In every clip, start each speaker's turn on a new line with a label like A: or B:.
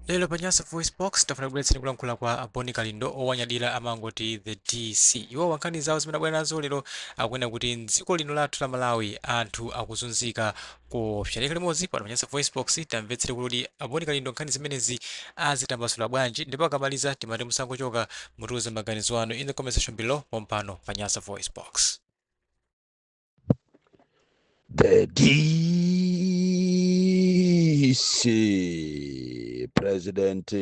A: lero pa nyasa voice box tafuna kubweretseni kulankhula kwa aboni kalindo owanyadira amangoti the dc iwowa nkhani zawo zimene abwera nazo lero akunena kuti mdziko lino lathu la malawi anthu akuzunzika khalani nane limodzi pano pa nyasa voice box tamvetsere kuti aboni kalindo nkhani zimenezi azitambasula bwanji ndipo akamaliza timati musangochoka mutiuze maganizo anu in the comment section below pompano pa nyasa voice box
B: The DC president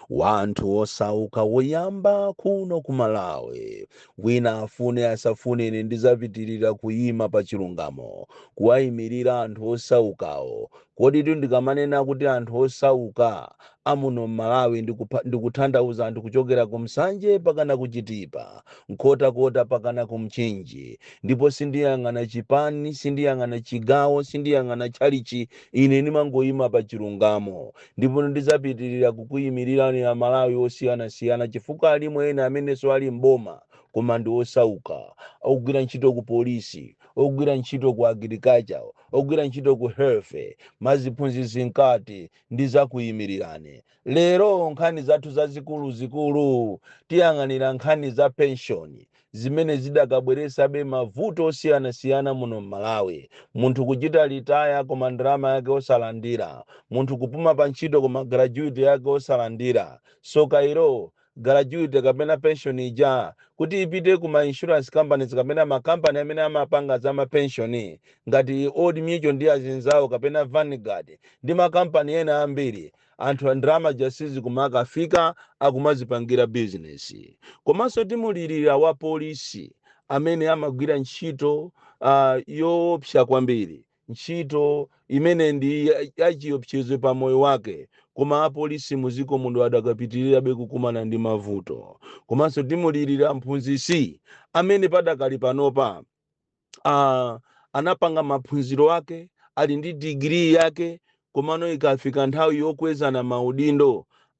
B: wa anthu osauka woyamba kuno ku Malawi wina afune asafune ine ndizapitirira kuyima pa chilungamo kuwayimirira anthu osaukawo Koditu ndikamanena kuti anthu osauka amuno m'Malawi ndikuthandauza anthu kuchokera ku Nsanje mpakana ku Chitipa, Nkhotakota mpakana ku Mchinji ndipo sindiyang'ana chipani, sindiyang'ana chigawo, sindiyang'ana tchalitchi ine ndimangoima pa chilungamo ndipo ndizapitilira kukuyimilirani a Malawi osiyanasiyana chifukwa alimo ena amenenso ali m'boma koma ndi osauka, ogwira ntchito ku polisi, ogwira ntchito ku agriculture, ogwira ntchito ku health maziphunzitsi mkati ndizakuyimirirani lero nkhani zathu zazikulu zikulu tiyang'anira nkhani za penshoni zimene zidakabweretsabe mavuto osiyanasiyana muno m'malawi munthu kuchita retire koma ndalama yake osalandira munthu kupuma pa ntchito koma gratuity yake osalandira soka ilo gratuity kapena pension ija kuti ipite ku ma insurance companies kapena ma company amene amapanga za ma pension ngati Old Mutual ndi azinzawo kapena Vanguard ndi ma company ena ambiri anthu ndalama zija sizikumakafika akumazipangira business komanso timulirira wa polisi amene amagwira ntchito uh, yoopsa kwambiri ntchito imene ndi ya- yachiopsezo pa moyo wake koma apolisi mu dziko muno adakapitirirabe kukumana ndi mavuto komanso timulirira mphunzitsi amene padakali panopa ah, anapanga maphunziro ake ali ndi digiri yake Komano ikafika nthawi yokwezana maudindo,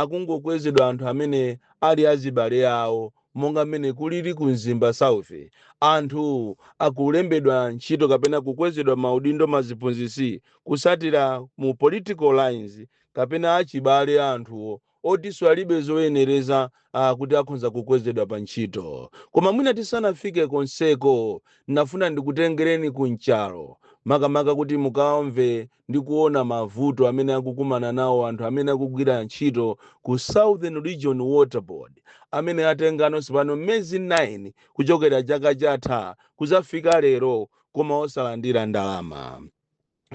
B: akungokwezedwa anthu amene ali azibale awo monga mmene kulili ku Mzimba South. Anthu akulembedwa ntchito kapena kukwezedwa maudindo maziphunzitsi kutsatira mu political lines kapena achibale a anthuwo otinso alibe zoyenereza zakuti akhonza kukwezedwa pa ntchito. Koma mwina tisanafike konseko, nafuna ndikutengereni ku Nchalo makamaka kuti mukawamve ndi kuona mavuto amene akukumana nawo anthu amene akugwira ntchito ku Southern Region Water Board amene atengano tsopano miyezi 9 kuchokera chaka chatha kudzafika lero koma osalandira ndalama.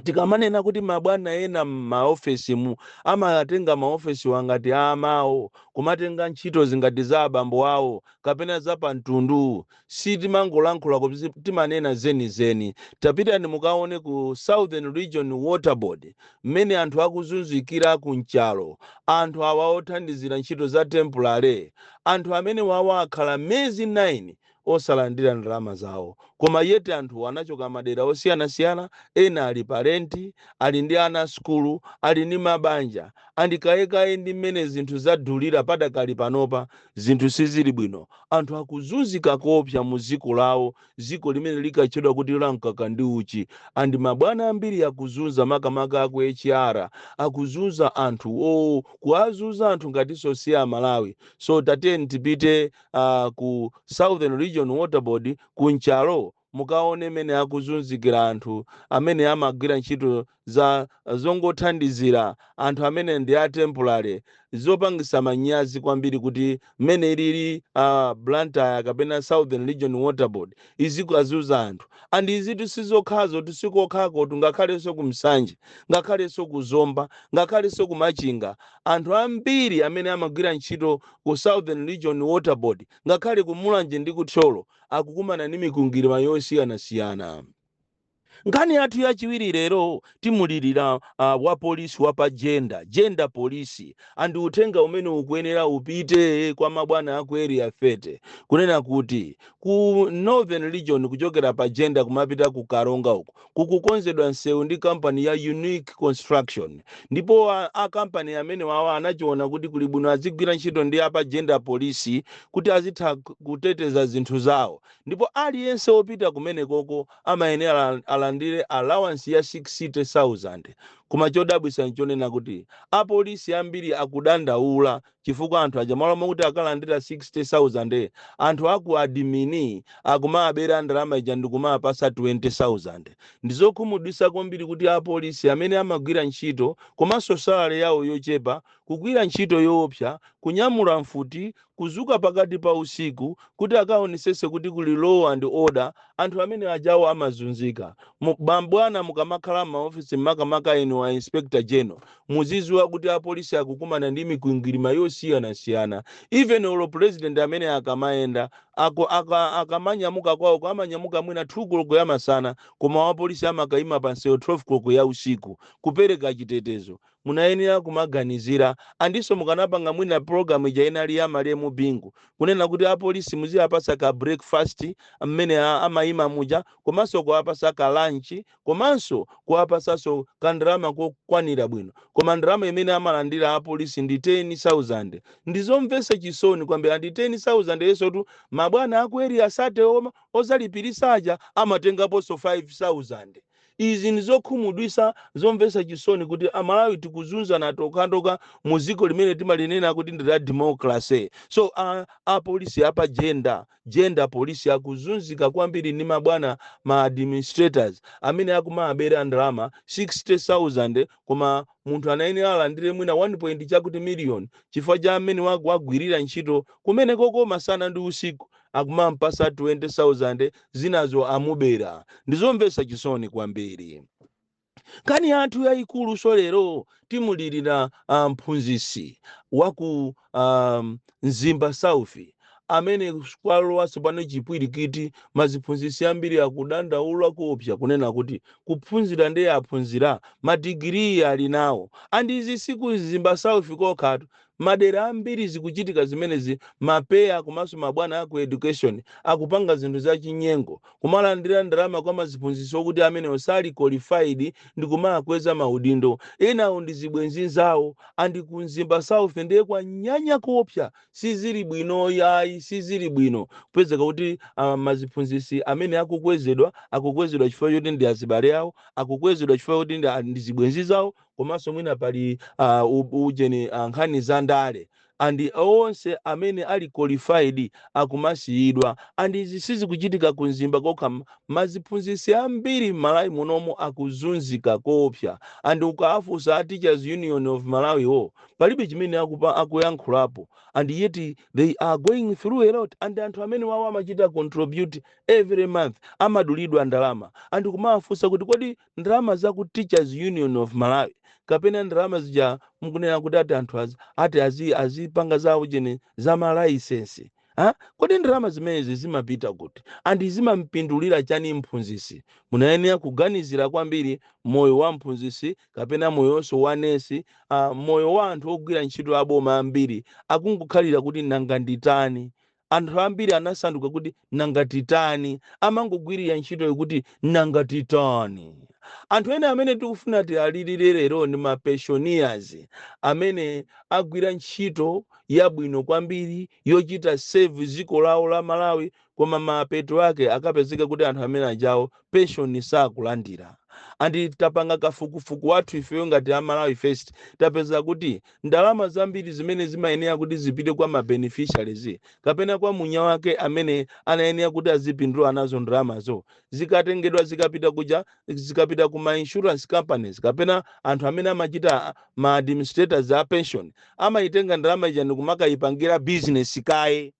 B: tikamanena kuti mabwana ena m'maofesimu amatenga maofesiwa ngati a amayi awo, kumatenga ntchitozi ngati za abambo awo kapena za pamtundu, sitimangolankhula koma timanena zenizeni. Tapitani mukaone ku Southern Region Water Board mmene anthu akuzunzikira ku Nchalo. Anthu awa othandizira ntchito za tempulale, anthu amenewawa akhala miyezi 9 osalandira ndalama zawo koma yet anthuwa anachoka madera osiyanasiyana ena ali pa rent ali ndi ana a sukulu ali ndi mabanja and kayekaye ndi mmene zinthu zadulira padakali panopa zinthu sizili bwino anthu akuzunzika koopsa mu dziko lawo dziko limene likatchedwa kuti la mkaka ndi uchi and mabwana ambiri akuzunza makamaka aku HR akuzunza anthu kuwazunza anthu ngatinso si amalawi so tatiyeni tipite uh, ku Southern Region Water Board ku Nchalo mukaone mene akuzunzikira anthu amene amagwira ntchito za zongothandizira anthu amene ndi a temporary zopangisa manyazi kwambiri kuti mmene ilili uh, Blantyre kapena Southern Region Water Board izikazunza anthu and izitu sizokhazo sikokhakotu ngakhalenso ku Nsanje ngakhalenso ku Zomba ngakhalenso ku Machinga Anthu ambiri amene amagwira ntchito ku Southern Region Water Board ngakhale ku Mulanje ndi ku Thyolo akukumana ndi mikwingwirima yosiyanasiyana. Nkhani yathu yachiwiri lero timulilira uh, wapolisi wa pa Jenda Jenda Police andi uthenga umene ukuyenera upite kwa mabwana aku Area 30 kunena kuti ku Northern Region kuchokera pa Jenda kumapita ku Karonga uku kukukonzedwa msewu ndi kampani ya Unique Construction ndipo a, a kampani amenewawa anachiona kuti kuli bwino azigwira ntchito ndi apa Jenda Police kuti azitha k- kuteteza zinthu zawo ndipo aliyense wopita kumenekoko amayenera al- alandire allowance ya 60000 koma chodabwisa nchonena kuti apolisi ambiri akudandaula chifukwa anthu aja m'malo mokuti akalandira 60,000 anthu aku adimini akumawabera ndalama ija ndikumawapasa 20,000. Ndizokhumudwisa kwambiri kuti apolisi amene amagwira ntchito komanso salary yawo yochepa, kugwira ntchito yoopsa, kunyamula mfuti, kuzuka pakati pa usiku kuti akaonesese kuti kuli law and order, anthu amene ajawo amazunzika. Mu, mabwana mukamakhala mma office makamaka inu a Inspector General, Muziziwa kuti apolisi akukumana ndi mikwingwirima yosiyanasiyana. Even olo president amene akamayenda, ako, aka, akamanyamuka kwawoko amanyamuka mwina 2 koloko ya masana koma wapolisi amakaima pa msewu 12 koloko ya usiku kupereka chitetezo. Munayenera kumaganizira andinso mukanapanga mwina program ija inali ya malemu Bingu kunena kuti apolisi muziapatsa ka breakfast mmene a, amaima muja komanso kuwapatsa ka lunch komanso kuwapatsanso ka ndalama kokwanira bwino koma ndalama imene amalandira a police ndi 10,000 ndizomvetsa chisoni kwambiri and 10,000 yosotu mabwana aku Area 30 wo odzalipiritsa aja amatengaponso 5,000 izi ndizokhumudwitsa zomvetsa chisoni kuti amalawi tikuzunzana tokhatokha mu dziko limene timalinena kuti ndi la democracy so a a police apa gender Gender police akuzunzika kwambiri ndi mabwana ma administrators amene akumawabera ndalama 60,000 koma munthu anayenera alandire mwina 1 point chakuti million chifukwa cha mmene wakagwirira ntchito kumenekoko masana ndi usiku akumampasa 20,000 zinazo amubera. Ndizomvetsa chisoni kwambiri. nkhani yathu yayikuluso lero timulirira ah, mphunzitsi wa ku ah, mzimba south amene kwalowa tsopano chipwirikiti maziphunzitsi ambiri akudandaula kuopsa kunena kuti kuphunzira ndiye aphunzira madigiriyi ali nawo and izi si ku mzimba south kokhatu madera ambiri zikuchitika zimenezi ma PEA komanso mabwana aku education akupanga zinthu zachinyengo kumalandira ndalama kwa maziphunzitsi okuti amene osali qualified ndi kumawakweza maudindo enawo ndi zibwenzi zawo andi ku mzimba south ndiye kwanyanya kuopsa sizili bwino yayi sizili bwino kupezeka kuti ah, maziphunzitsi amene akukwezedwa akukwezedwa chifukwa choti ndi azibale awo akukwezedwa chifukwa choti ndi a- ndi zibwenzi zawo komanso mwina pali uh, u- ujeni uh, nkhani za ndale and onse amene ali qualified akumasiyidwa and izi sizikuchitika ku mzimba kokha m- maziphunzitsi ambiri m'malawi munomo akuzunzika koopsa and ukawafunsa a teachers union of malawi wo palibe chimene akupa akuyankhulapo and yet they are going through a lot and anthu amene wawo amachita contribute every month amadulidwa ndalama and kumawafunsa kuti kodi ndalama za ku Teachers Union of Malawi kapena ndalama zija mukunena kuti ati anthu az- ati azi- azipanga za ujeni za malaisensi ha? kodi ndalama zimenezi zimapita kuti andi zimampindulira chani mphunzisi munayenera kuganizira kwambiri moyo wa mphunzisi kapena moyonso wa nesi uh, moyo wa anthu ogwira ntchito aboma ambiri akungokhalira kuti nanga nditani Anthu ambiri anasanduka kuti nanga titani, amangogwirira ntchitoyo kuti nanga titani. Anthu ena amene tikufuna tiwalirire lero ndi ma pensioners amene agwira ntchito yabwino kwambiri yochita serve ziko lawo la Malawi koma mapeto ake akapezeka kuti anthu amene ujawo pension sakulandira. And tapanga kafukufuku wathu ifeyo ngati a Malawi First tapeza kuti Ndalama zambiri zimene zimayenera kuti zipite kwa ma beneficiaries kapena kwa mwina wake amene anayenera kuti azipindula nazo ndalamazo zikatengedwa zikapita kuja zikapita ku ma insurance companies kapena anthu amene amachita ma administrators a pension amayitenga ndalama ija ndikumakayipangira business kaye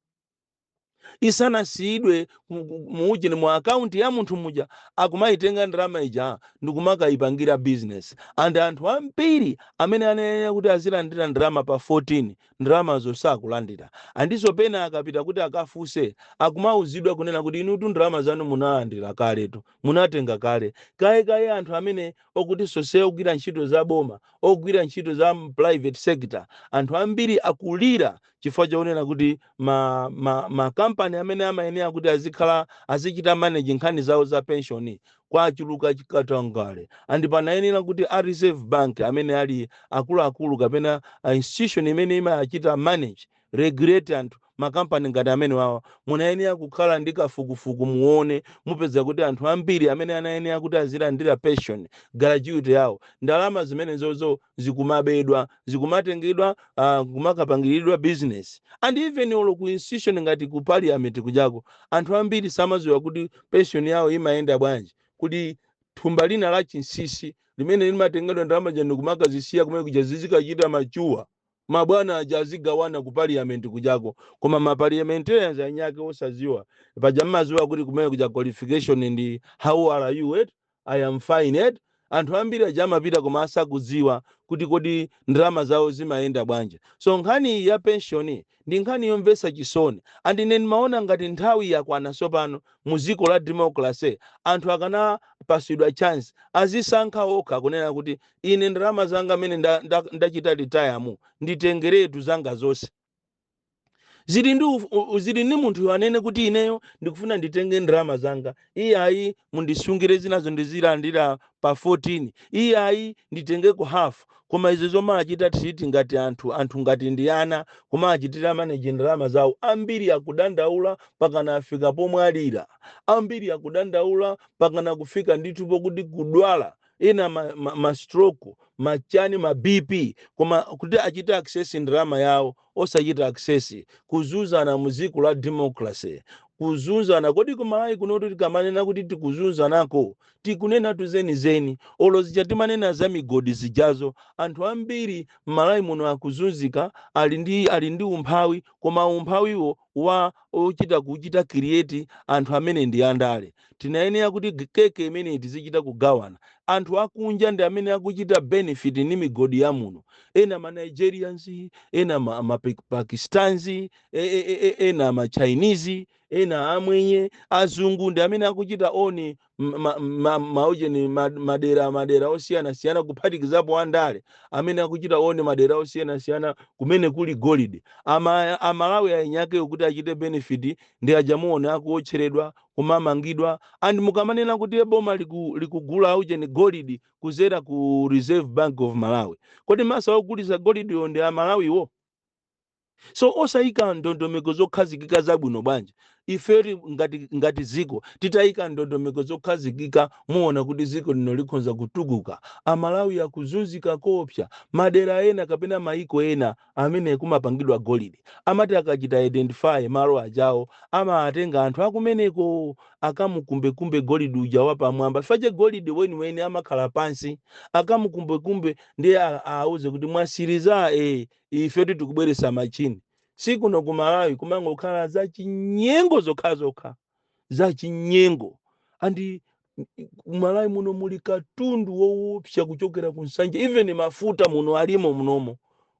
B: isanasiyidwe ku- ku- mu ujeni mu akaunti ya munthu muja akumayitenga ndalama ija ndikumakayipangira bizinesi and anthu ambiri amene anayenera kuti azilandira ndalama pa 14 ndalamazo sakulandira andiso pena akapita kuti akafunse akumauzidwa kunena kuti inutu ndalama zanu munalandira kaletu munatenga kale kaye kaye anthu amene okuti sose ogwira ntchito za boma ogwira ntchito za m- private sector anthu ambiri akulira chifukwa chonena kuti ma, ma, ma company amene amayenera kuti azikhala azichita manage nkhani zawo za pension kwachuluka chikatangale and panayenera kuti a reserve bank amene ali akuluakulu kapena a institution imene imachita manage regulate anthu makampani ngati amene wawa munayenera kukhala ndi kafukufuku muone mupeza kuti anthu ambiri amene anayenera kuti azilandira pension gratuity yawo ndalama zimenezozo zikumabedwa zikumatengedwa uh, kumakapangiriridwa business and even olo ku institution ngati ku parliament kujako anthu ambiri samaziwa kuti pension yawo imayenda bwanji kuti thumba lina la chinsisi limene limatengedwa ndalama zija ndi kumakazisiya kumene kuja zizikachita mature Mabwana aja azigawana ku parliament kujako koma ma parliamentarians eniake osaziwa paja mmaziwa kuti kumene kuja qualification ndi how are you eti I am fine eti anthu ambiri aja amapita koma asakudziwa kuti kodi ndalama zawo zimayenda bwanji so nkhani iyi ya pension ndi nkhani yomvetsa chisoni and ine ndimaona ngati nthawi yakwana tsopano mu dziko la democracy anthu akanapasidwa chance azisankha okha kunena kuti Ine ndalama zanga amene nda- nda- ndachita retire nditengeretu zanga zonse zili ndi uf- u- u- zili ndi munthu anene kuti ineyo ndikufuna nditenge ndalama zanga iyayi mundisungire zinazo ndizilandira pa 14 iyayi nditengeko half koma izo zomachita treat ngati anthu anthu ngati ndi ana kumawachitira maneji ndalama zawo ambiri akudandaula pakana afika pomwalira ambiri akudandaula pakana kufika ndithu pokuti kudwala ena ma, ma, ma stroke machani ma bp koma kuti achite access ndalama yawo osachita access kuzunzana mu dziko la democracy kuzunzana kodi kumalawi kunotu tikamanena kuti tikuzunzanako tikunena tuzenizeni olo zija timanena za migodi zijazo anthu ambiri mmalawi muno akuzunzika ali ndi ali ndi umphawi koma umphawiwo wa ochita kuchita create anthu amene ndi andale tinayenera kuti g- keke imeneyi tizichita kugawana anthu akunja ndi amene akuchita benefit ndi migodi ya muno ena ma nigerians ena ma, ma Pe- pakistans e, e, e, e, ena ma chinese ena amwenye azungu ndi amene akuchita own ma- ma- maujeni ma- madera madera osiyanasiyana kuphatikizapo andale amene akuchita own madera osiyanasiyana kumene kuli golide Ama- amalawi aeni akewo kuti achite benefit ndi aja muona akuotcheredwa kumamangidwa and mukamanena kuti "Eh, boma liku- likugula aujeni golidi kuzera ku reserve bank of malawi kodi mesa ogulitsa golidiyo ndi amalawiwo so osayika ndondomeko zokhazikika zabwino bwanji ife ti- ngati, ngati dziko titayika ndondomeko zokhazikika muona kuti dziko lino likhonza kutukuka amalawi akuzunzika koopsa madera ena kapena mayiko ena amene kumapangidwa golide amati akachita identify malo ajawo amawatenga anthu akumeneko akamukumbekumbe golide uja wapamwamba fache golide weniweni amakhala pansi akamukumbekumbe ndiye a- auze kuti mwatsiriza e ife tikubweretsa machini si kuno ku malawi kumangokhala za chinyengo zokhazokha za chinyengo and ku malawi muno muli katundu wowopsa kuchokera ku nsanje even mafuta muno alimo munomo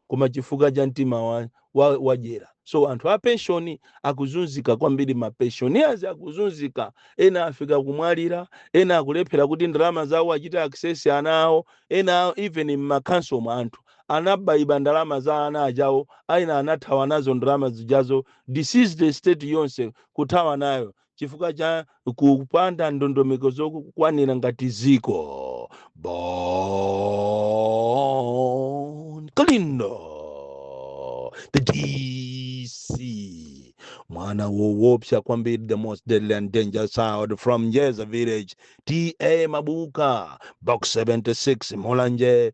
B: koma chifukwa cha mtima wa, wa, wadyera so anthu a penshoni akuzunzika kwambiri ma pensioners akuzunzika ena afika kumwalira ena akulephera kuti ndalama zawo achite access ana awo ena even mmakhansomo anthu anabaiba ndalama za ana ajawo aina anathawa nazo ndalama zijazo deceased estate yonse kuthawa nayo chifukwa cha kupanda ndondomeko zokwanira ngati ziko bon kalindo the dc mwana wowopsa kwambiri the most deadly and dangerous child from njedza village ta mabuka box 76 mulanje